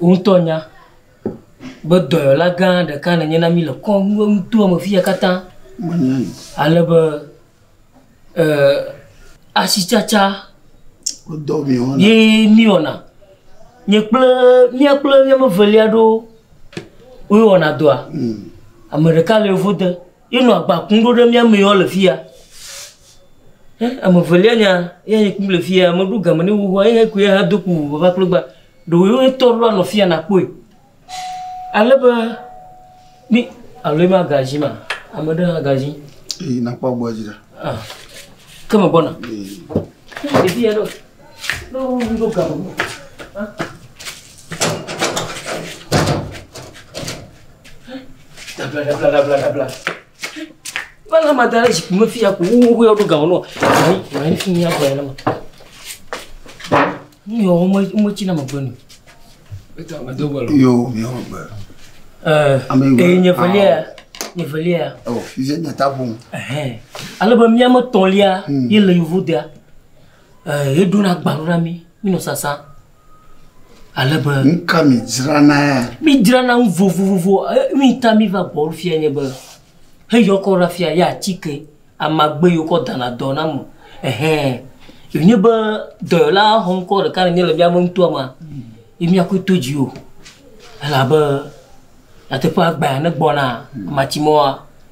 Wò ŋutɔ nya be dɔyɔla gã ɖeka nènye na mí le kɔƒe nutoa me fiya katã. Menyae. Ale be eh, asitsatsa Wodɔ mi wɔna. ye míewɔna. Nye kple mía kple mía me velia ɖo woe wɔna dɔa. Ame ɖeka le yevo de. Ye nɔ agba kum ɖo ɖe mía mee woa le fi ya. Ye ame velia nya ye he kum le fi ya. Me ɖo game ne wo xoxoa ye he kui ye ha do ku ŋu vava kple gba. Ɖewo ye ŋutɔ ɖo anɔ fi ya na kpɔe. Ale be mi alo ye ma ga zi ma? Ame ɖe hã ga zi. Eyi na kpɔ gbɔ zi ɖe. Ah, ke me gbɔna. Eyi. Ɖevi ya ɖo. Dabladabladabla. Bala ma da ɖe zikpui me fi ya ko wowo yɔ ɖo gawo nɔ. Ayi ayi fi ya gbɔ ma. Nu yɔ wɔme wɔme tsi na me gbe nu. Yo mi wɔme gbe. Ɛɛ ee nye velia nye velia. Ɔ fi zɛ nye ta ƒom. Ale be miame tɔlia ye le yevu dea. Ɛɛ, eɖona agbalo na mí, mínɔ sasã ale be. Nuka midzranae? Mídzrana nu vovovo. Nuyi ta míva gbɔwò fiya nye be, heyɔkɔ ɖe afia, ye atike amagbe yi wokɔ dana dɔ na ame. Ɛhɛ, wònye be dɔyɔla xɔŋkɔ ɖeka nènye le míaƒe nutoa mea, ye míakɔe to dziwò. Elabe nyateƒea gbea ne gbɔna matsi mɔa.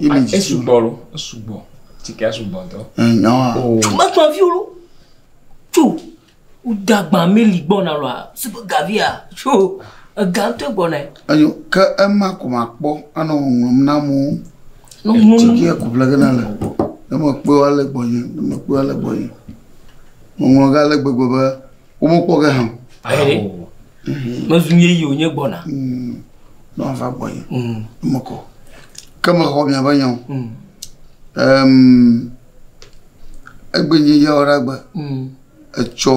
image esugbɔ lo esugbɔ tikɛ sugbɔ ŋutɔ. nyawa. mekpɔ fi wo tso woda gba meli gbɔna lɔa supe gavia tso ega ŋutɔ gbɔna. eyo ke ema ko ma kpɔ anɔ ŋɔŋlɔm na amewo. ŋɔŋlɔm tikɛ ko ƒlege na le ne mekpɔe ale gbɔnye ne mekpɔe ale gbɔnye ŋɔŋlɔ ga ale gbegbe be. womekpɔ ge hã o mezu ye yi wònye gbɔna mm. ne wava gbɔ yi mm. mekɔ ke mexɔ miaƒe nyawo mm. egbe nye yawo ɖa gbe etsɔ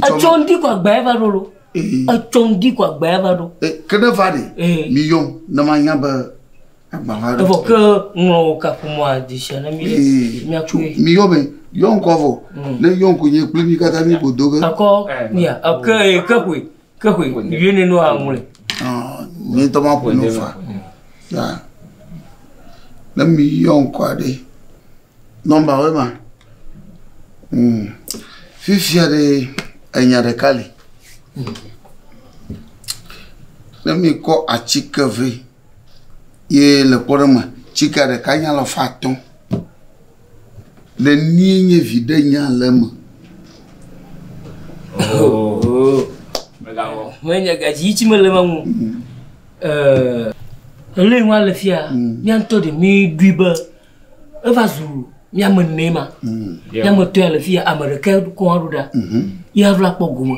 etsɔ ŋdi kɔ agba eva ɖo lo etsɔ ŋdi kɔ agba eva ɖo ke ne va ɖe mi yɔm ne manya be Evɔ ke ŋlɔ wò kaƒomɔa dzi sia ne mi miaku ye. Mi yɔ be yɔ ŋkɔ vɔ. Mm. Ne yɔ ŋkɔ nye kple mi katã mi ko do ge. Ekɔ mia ke ke ƒoe ke ƒoe yue ne no aŋlɔe. Ah, mi tɔ ma ƒo no fa. Ya. Ne mi yɔ ŋkɔ aɖe. Nɔmba wo ma. Mm. Fifia ɖe enya ɖeka li. Mm. Ne mi kɔ atike vɛ. ye le kpɔɖe me tsika ɖeka nye alafa atɔ̃. Nenie nye viɖe nya le eme? Ohohoho. Megawɔ. Menye gadzi yi tsi mele eme ŋu. Ɛɛ. Ele ŋua le fia. Mía ŋutɔ ɖe mí ɖui be eva zu mía me enee ma. Mía me etɔ̃ ya le fia ame ɖeka kɔa ɖo ɖa. Ye ava kpɔ gome.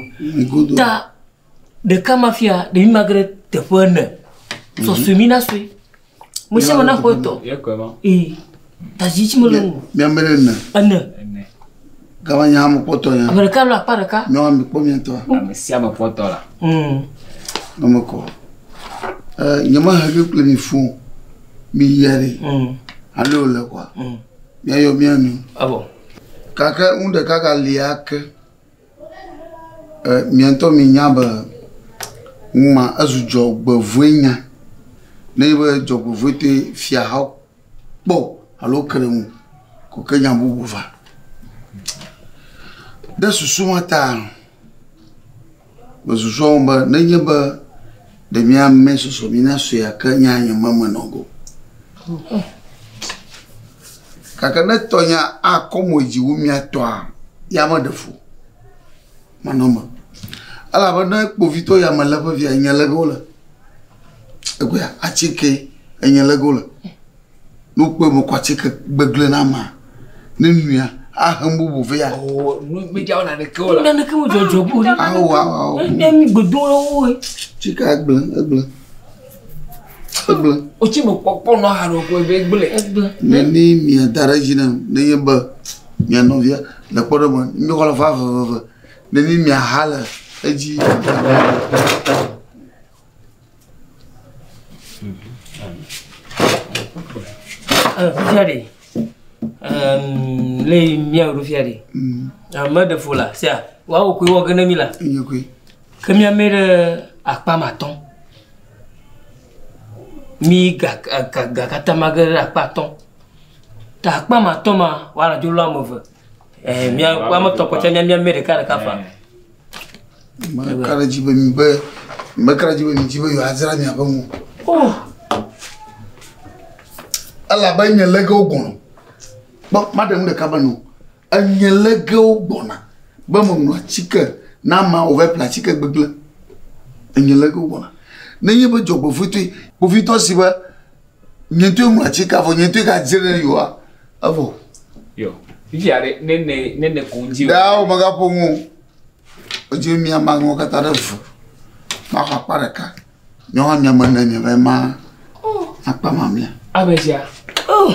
Ta Ɖeka ma fia ɖevi magre teƒe ene. Sɔsɔe mi na sɔe. Mo sia mo na xɔ etɔ. Ee. Tazi tsi mo le ŋu. Mi ame ɖe ne. Ene. Gama nya mo kpɔtɔ nya. Ame ɖeka lo akpa ɖeka. Nyɔ ame kpɔ mi tɔ. Ame sia me kpɔtɔ la. Mm. Ame kɔ. Eh, nyɔ ma ha ke kple mi fún. Mi yɛri. Mm. Ale o le kwa. Mm. Mi ayɔ mi anu. Abo. Kake un ɖeka ka lia ke. E mia ŋutɔ minya be nu ma ezu dzɔgbevɔ̃e nya nenye be dzɔgbevɔ̃etɔe fiahawo kpɔ alo ke ɖe ŋu ko ke nya bubu va. Ɖe susu ma taa mesusua ŋu be nenye be. Ɖe míame sɔsɔ mína sue ake nya nye me menɔ go. Gake ne tɔnya akɔ mo dzi wu mía tɔa, ya meɖe fu manɔ me. Elabe ne kpovitɔ ya melé ƒe via, nye lege wole. Egbea, atsi ke enye lege wole. Ne wokpɔe be wokɔ atike gbegblẽ na amea, ne nuia, ahe nu bubu vɛ. Ɔ, nu media wo naneke o la. Naneke mo dzɔdzɔ bo ɖe. Awo, awo, awo. Ne mi gbedo le wo. Tsike egblẽ, egblẽ. Egblẽ. O tsi me kpɔkpɔ nɔ ha nɔ kɔe be egblẽ. Egblẽ. Ne ni mia da ɖe dzi ne ne ye be mia nɔvia le kpɔ ɖe me, mi xɔ le fa veveve. Ne ni mia ha le edzi. Fifiaɖe, le mía ɖo fiaɖe, ame ɖe fo la, sia, woawo koe wɔ gene mi la. Enye koe. Ke mía mɛ ɖe akpa ma tɔn. Mi ga ga ga kata ma ge ɖe akpa tɔn. Ta akpa ma tɔn ma, wala dzo lo ame ve. Eh, mía, ame tɔn kpɔtɔ mía mía mɛ ɖeka ɖeka fa. Meka ɖe dzi be mi be meka ɖe dzi be mi dzi be yewoadzra miaƒe ŋu. Oh. Elabe nye legewo gbɔna. Kpɔ maɖe nu ɖeka be no. Enye legewo gbɔna be meŋlɔ atike na ma wòva ƒle atike gbegblẽ. Enye legewo gbɔna. Nenye be dzɔgbevɔ̃etɔe kpovitɔ si be Nye ŋutɔe ŋlɔ atsi kafɔ, nye ŋutɔe ga dze ɖe yoa, evɔ. Yɔ, fifia ɖe, ne ne, ne ne ko ŋdzi. Ɖaa o mega ƒo ŋu. Edzi mi ama ŋlɔ kata ɖe vu. Ma xɔ akpa ɖeka. Nyɔa mi ame ne nye vɛ ma. Akpa ma mia. Amezia. Oh.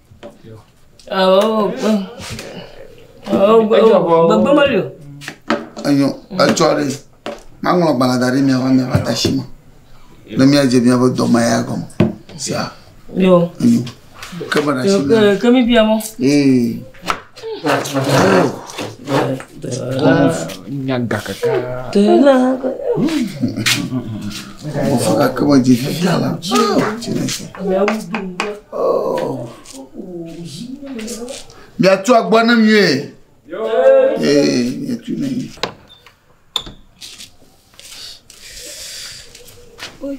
Enyo, etsɔ ɖe, maŋlɔ agbalẽ da ɖe mia va mia va da shi me ne mia dze mia be dɔ ma ya gɔme. Sia. Yo. Enyo. Ke me da shi me. Ke mi bia mo. Ee. Nyaga kaka. Tena. Mufika ke me dzi fia la. Miatu agbɔ ne mi ye. Ee, miatu ne mi. Oi.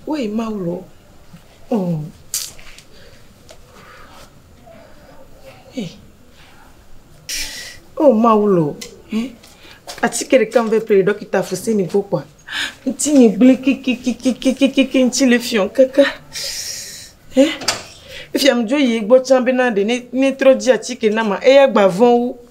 Woyi Mawu lɔ. Oh. Hey. Oh Mawu lɔ. Eh. Atike ɖeka me ƒe ƒle ɖɔkita fosi ni gbɔ kpɔa. Ŋti nyi gblẽ kikikikikikikiki ŋti le fiɔ keke. Eh. Efia mi dzo yi gbɔ tsã bena ɖe ne ne trɔ dzi atike na ma eya gba vɔn wu.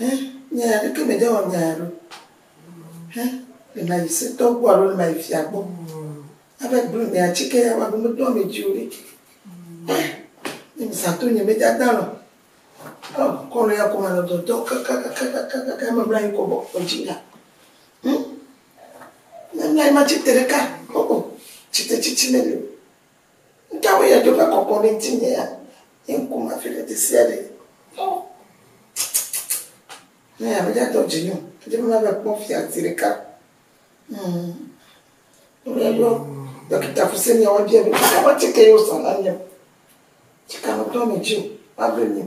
Hẽ, nya ya ɖeke mede wɔ nya ya ɖo. Hẽ, le ma yi se tɔ gbɔ alo le ma yi fia gbɔ. Abe blu mea tsi ke ya wa ɖo medo ame dzi o ɖe. Hẽ, ne mi sa to nye me dada lɔ. Ɔ, kɔnu ya kɔ ma nɔ dɔdɔ kakakakakakaka me mla yi kɔ bɔ kɔ dzi ya. Hẽ, ne mla yi ma tsi te ɖeka. Ɔ, ɔ, tsi te tsi tsi me le. Nu ka wɔe ya dzo va kɔkɔ ɖe ŋutinye ya? Nye ŋku ma fi ɖe ɖe sia ɖe. Ɔ, ne ya medza dɔ dzi nyo. Edze be mava kpɔ fia zi ɖeka. Hmm. Ɖe yɔ dɔkita fuse ni awa bia be nu ka wɔe tsike yɔ sa na mi o. Tsika me tɔ me dzi o. Mable mi o.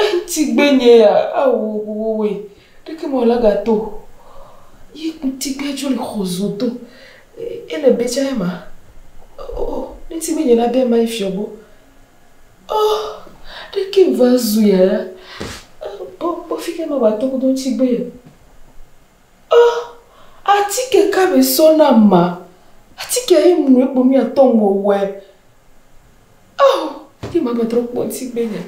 Eŋti gbe nye ya ao wowowoe ɖeke me wòla ga to yi ŋti gbe dzo le xɔ zo to ele be tsa ema o ŋti gbe nye la be ma ifiɔ bo o ɖeke me va zu ya ya bo bo fi ke ma ba to kodo ŋti gbe ya o ati ke ka me sɔ na ma ati ke yi mu ekpo mi atɔ ŋwɔwɔe. Oh, ti ma metrɔ kpɔ ti gbe nya.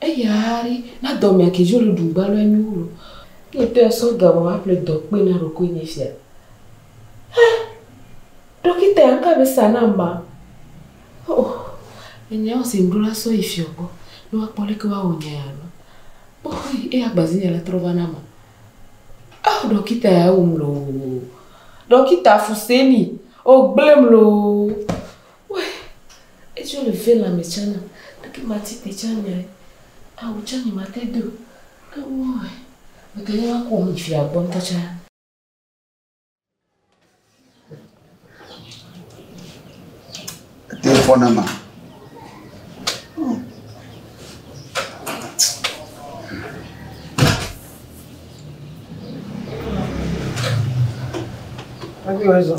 Eya ari na dɔ mea ke jo le du gba lɔ enyu lo. Ke te so ga ma ma ple dɔ kpe na ro ko ni fia. Ha. Dokita ya ka be sa na ma. Oh. Enya o se mdro la so yi fio gbo. No wa kpɔ le ke wa o nya ya lo. Oh, e ya gbazi nya la trɔ va na ma. Oh, dokita ya o mlo. Dokita fuseni. O gblem lo. Why? Eci wole ve lãme tsã nam, leke mati te tsã nyae? Awu tsã nye mate do ɖe wo me. Mete ŋu akɔ wo yi fia gbɔ ŋutɔ tsã. Ete fɔ na ma. Have you raison?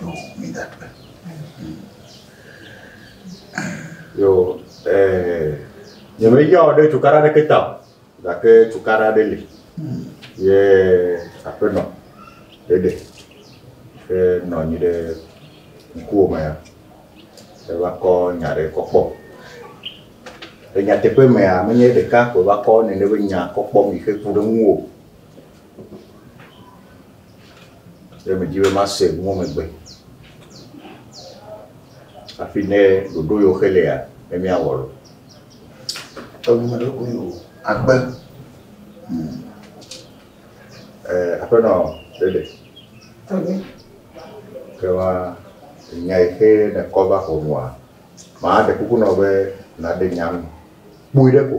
No, mi da kpe. Yo, eh, nyemeya wɔ ɖe cukaɖa ɖeke ta o, gake cukaɖa ɖe li. Ye aƒenɔ ɖeɖe ke nɔ anyi ɖe ŋkuwò me ya, eva kɔ nya ɖe kɔ kpɔ. Le nyateƒe mea, menye ɖeka ko eva kɔ nene be nya kɔ kpɔ mi xe ku ɖe ŋuwò. Ɖe mèdi be mase nuwo me gbe hafi ne ɖoɖo yewo xe lea ne míawɔ lo? Eŋu meɖo koe o. Agbe. Hmm. Eh, aƒenɔ ɖeɖe. Agbe. Ke ma nya yi xe nekɔ va xɔ nua, maɖe kuku nɔ be naɖe nya nu. Kpui ɖe ko.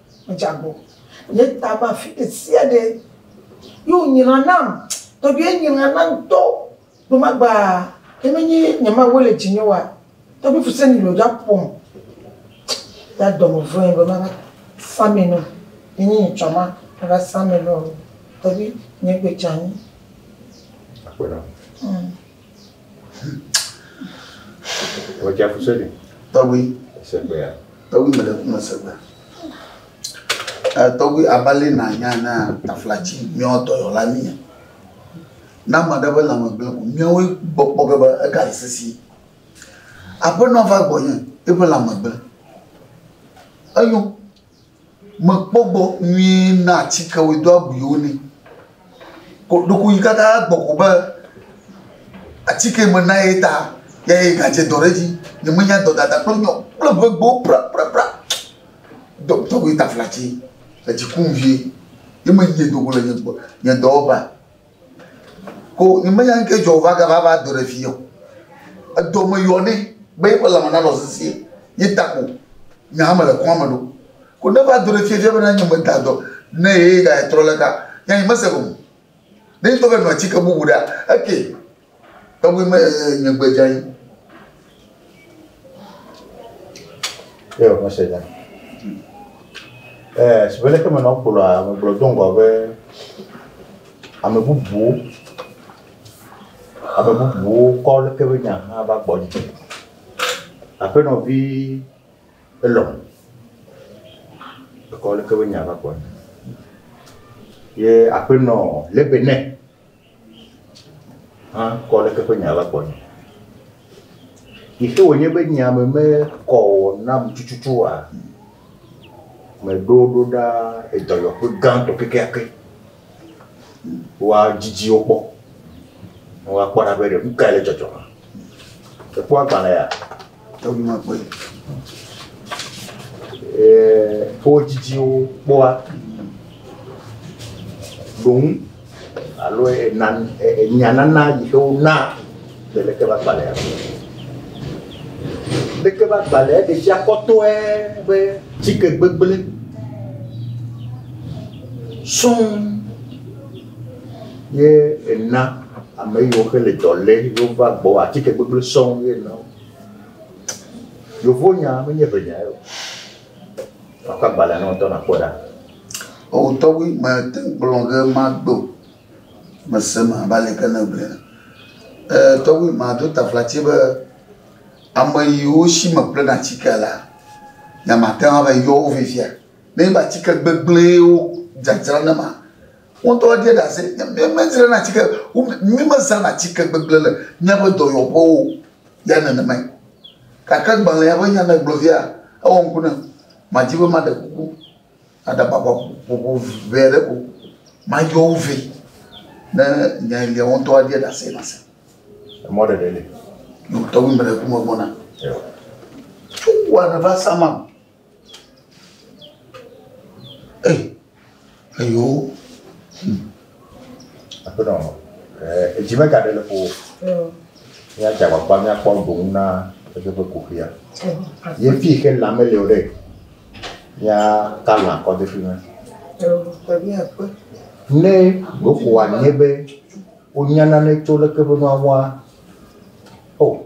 Medze agbo. Nye ta va afi ɖesiaɖe. Ye wònyra nam. Tɔgbuiɛ nyra nam ŋutɔ. Gbemagbea, ne menye nye mawue le dzinye oa, tɔgbui Fuseni ɖewo dza ƒom. Ya dɔme vɔ̃e be mava sa mee nɛ o. Ne nye nye tsɔma mava sa mee nɛ o. Tɔgbui, nye gbe dze anyi. Akpe ɖa. Wòdze afu sɔɖi. Tɔgbi. Segbea. Tɔgbi me ɖe ku me segbea. Tɔgbi abali na nya na taflatsi míawo dɔyɔla mi. Na ame ɖe be lãme gblẽ ko míawoe gbɔ kpɔ ge be ega le sisi. Aƒenɔ va gbɔ nye eƒe lãme gblẽ. Eyo. Mekpɔ gbɔ nyuie na atikewoe do abuiwo nɛ. Ko ɖeko yi kaka gbɔ ko be atike me na ye ta ya ye ga dze dɔ ɖe edzi. Nye me nya dɔ dada kple nyɔ kple ŋegbewo prapra. Dɔ tɔgbi taflatse edzi kum vie ye me nyi do go le nye dɔ wɔƒea. Ko menya nu kae dzɔ wòva gava va do ɖe fii o. Edɔ meyɔ nɛ be eƒe lãme nanɔ sesĩe ye ta ko nye hã mele kɔa me ɖom. Ko ne eva do ɖe fia fia bena nye meda dɔ ne ye ye gatrɔ le eka, nye hã nyemese gome o. Ne ŋutɔ be nɔ atike bubu ɖea, ekee. Tɔgbi me nye gbe dza yi. Ye o mese dza. Eh, si bele ke me no kpolo a me blo don go be ame bubu ame bubu ko le ke be nya ha ba gbo ji. Ape no vi elo. Ko le ke be nya ba gbo. Ye ape no le be ne. hã kɔ ɖeke ƒe nya la gbɔnye. Yi xe wònye be nya me mekɔ o nam tututu oa, meɖo ɖo ɖa edɔyɔƒe gãtɔ kekeake be woadidi wo kpɔ, ne woakpɔ ɖa be ɖe nu kae le dzɔdzɔm. Èkpɔ agbalẽa? Enumegbe wo dzidziwo kpɔa ɖoŋu alo nyanana yi ke wonaa le lekebagbalẽa me. Lekebagbalẽa ɖe fia kpɔtɔe be tike gbegblẽ sɔŋ. Ye ena ame yiwo ke le dɔ lé ye wova gbɔ atike gbegblẽ sɔŋ ye na wo. Yevonya menye ŋenya ye o. Makɔ agbalẽ na wò ŋutɔ nàkpɔ ɖa. O tɔgbi mete ŋu kplɔ ge magbe o. Mese eme abe ale yi ke nègblɔe ene. Ee tɔgbi mado taflatsi be ame yiwo si meƒlena atikea la, nyemate ŋu ava yɔ wo fifia Nenye be atike gbegblẽe wodzadzra na ma, wo ŋutɔ edie ɖe ase. Míemedzrana atike, míemezãna atike gbegblẽ le míaƒe dɔyɔƒewo o ya nenemae. Gake agbalẽa ƒe nyamegblɔɖia ewɔ ŋku nam. Madi be maɖe kuku aɖe aʋaʋã ƒoƒo ʋɛ aɖe ko mayɔ wo vɛ ne nya yi lia wo ŋutɔ adie ɖe ase nase. Emɔ ɖeɖe li. Tɔgbi mele ku me gbɔna. Tso wɔ aɖe va sa ma. Ei, eyo. Hmm. Aƒenɔ, eh, edzi megaɖe le ƒo. Míadze agbagba míakpɔ boŋ na eƒe kuxia. Ye fi ke lã mele o ɖe, míaka lã kɔ de fi ma. Ne ɖoko wòanye be wonya nane tso leke be nua wɔa, o,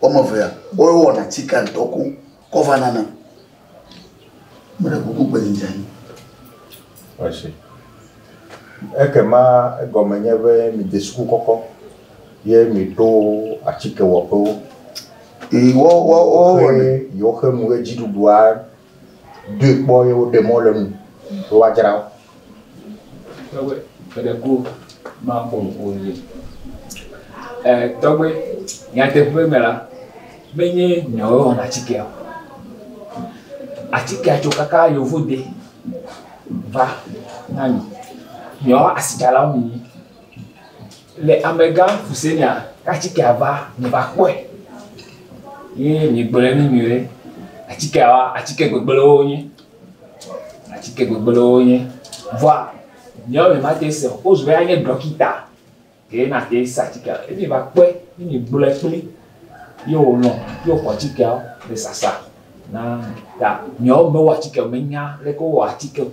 Woame evea, woawo wɔna tsika ŋdɔ koŋ kɔ va na nam. Meɖe kuku gbe dzi dze anyi. Ɔshi. Ekema egɔme nye be midze suku kɔkɔ ye miɖo atikewɔƒewo. Yi wɔ wɔ wɔ wɔnɛ. Woxe nu ɣedziɖuɖua. doe kpɔ ye woɖe mɔ le enu be woadzra wo. Tɔgbe eɖe ko maƒo nu o nɛ. E tɔgbe nyateƒe me la, menye nyawoe wɔna atikea o. Atikea tso kaka yevu de va na mi. Nyawoa asitsalawo mi nyi. Le amegã Kusenia k'atikea va mi va kpɔe ye mi gblɔɛ ne mi be atikeawa atike gbegblẽwo wonye. Atike gbegblẽwo wonye. Vɔa miawo mi mate se o. Wozu be anye ɖɔkita ye nate se atikea. Ye mi va kpɔe ye mi gblɔɛ kpli ye wònɔ ye wòxɔ atikeawo le sasa na ta miawo mi mewɔ atike o, menya leke wowɔ atike o.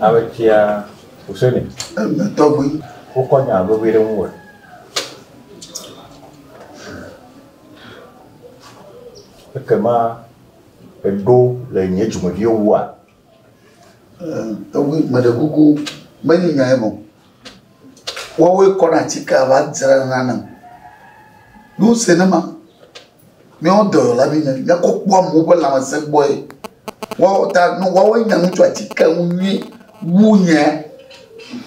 Ametia Huseni. Ɛmɛ tɔgbi. Wokɔ nya vevi ɖe ŋu wɔ. Ekema eɖo le nye dzumeviwo wua? Tɔgbi meɖe kuku menyi nya ye me o. Woawoe kɔna atikea va dzrana nam. Nu se ne ma, míawo dɔyɔla mi nye, míakɔ kpɔ amewo ƒe lãmesẽ gbɔe. Woawo ta nu woawoe nya nu tso atikea ŋu nyuie wu nye.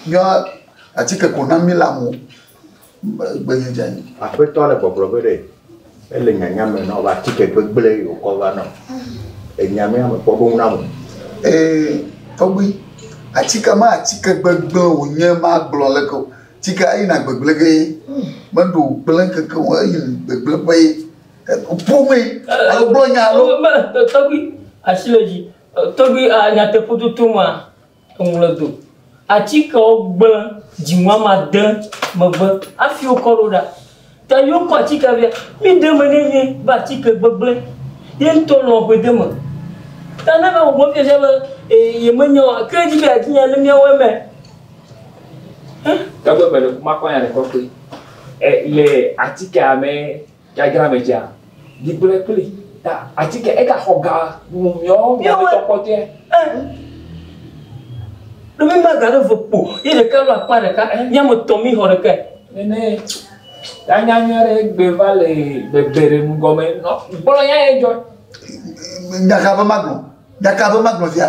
Míawo atike ko na míle amewo. Gbenye dza yi. Aƒetɔ le gbɔgblɔ be ɖe ele nyanya me nɔ va tike gbegble yi wokɔ va nɔ. Enya mea me kpɔ ɖo na mo. Ee tɔgbui. Atike ma atike gbegble wonye ma gblɔ leke o. Tike eyi na gbegble ge ye. Me ɖo gble keke o eyi gbegble ƒe ye. Ƒo me. Alo gblɔ nya alo. Tɔgbui asi le dzi. Tɔgbui a nyateƒo tutu ma. Woŋlɔe do. Atikewo gblẽ dziŋɔ ame ade megbe hafi wokɔ ɖo ɖa. Ta yi wokɔ atikea via, míde eme nɛ nyuie be atike gbegblẽ ye ŋutɔ lɔ̃ ƒe de eme. Ta ne va bɔbɔ fiafia be ee yemenya o gake edzi be yeadi nya ne míawɔe mɛ. Ẽ? Togbɔ be ɖeko makpɔ nya ɖe kpɔkpɔe le atikea mɛ. Dzadzra me tsea, ɖi gblẽ kpli ta atike ega xɔ ga nu miɔ miametɔ kpɔtɔɛ. Ɖo mi ma ga ɖe ve kpo yi ɖeka lo akpa ɖeka miametɔ mi xɔ ɖeka. Nene ya nya nya ɖe gbe va le bebe ɖe nu gɔme nɔ gblɔ ya ye jɔ. Ɖaka be maglɔ, ɖaka be maglɔ via.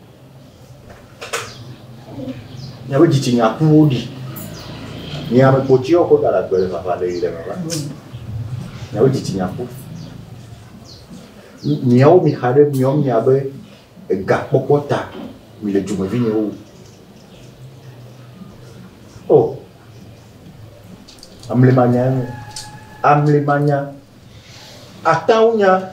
Miaƒe dzitsinya ƒu wo ɖi. Miame kpotsiwo ko da ɖe agbe le vava ɖe yi ɖe vava. Miaƒe dzitsinya ƒu. Miawo mi xa ɖe miawo mi abe ega kpɔkpɔ ta mi le dzomevi nye wo. O. Oh. Amle manya. Amle manya. Atawunya.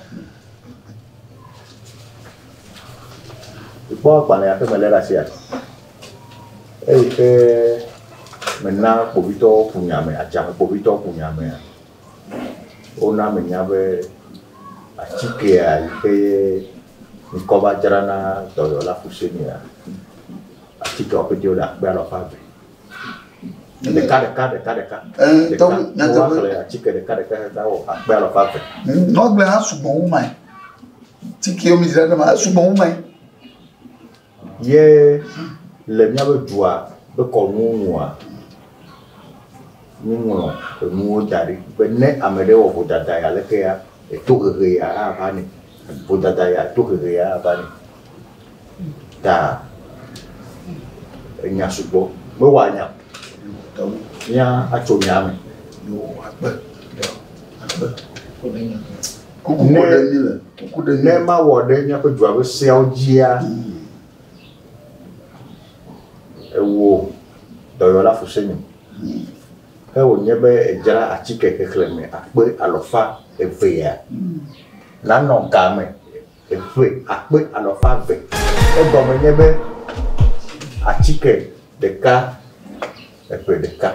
Kpɔ agbalẽ aɖe me lé ɖe asia, eyi ke mena kpovitɔwo ku nye ame, adzame kpovitɔwo ku nye amea, wona menya be atikea yi ke ye ŋkɔ va dzra na dɔyɔla Fusenea, atikeawo ƒe ɖe akpe alafa eve. ɖeka ɖeka ɖeka ɖeka nyateƒe atike ɖeka ɖeka ɖeka wɔ akpe alɔfa eve. nɔgble hã sugbɔ wu mae tike mi zra ɖe ma esugbɔ wu mae. ye le míaƒe dua be kɔnu nua míeŋlɔ enuwo da ɖi be ne ame ɖe wɔ vodada ya leke ya eto hehe ya ava ne vodada ya eto hehe ya ava ne. ta enya sugbɔ mewɔ anya mía atso nya me. Ne mawɔ ɖe míaƒe dua ƒe seawo dzia, ewɔ dɔyɔla fu se nyo. Ke wònye be edzra atike xexlẽme akpe alɔfa evea nanɔ ga me. Eƒe akpe alafa eve. Egɔme nye be atike ɖeka eƒe ɖeka.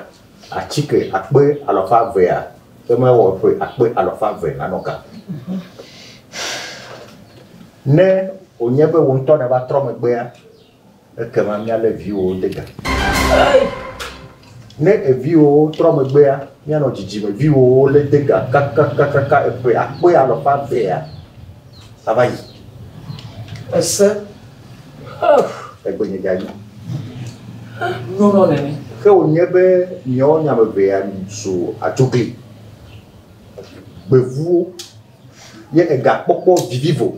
Atike akpe alafa evea ke mewɔ eƒe akpe alafa eve nanɔ ga. Ne wònye be wò ŋutɔ nèva trɔ megbea, Ekema míalé viwòwo de ga. Ne eviwòwo trɔ megbea, míanɔ dzidzime viwòwo lé de ga kakakakaka eƒe akpe alɔfa evea ava yi. Ese. Egbenye ga yi. Nyɔnɔ nene. Ke wònye be miawo nya me evea zu adzogli, gbevuwo, ye egakpɔkpɔ vivivo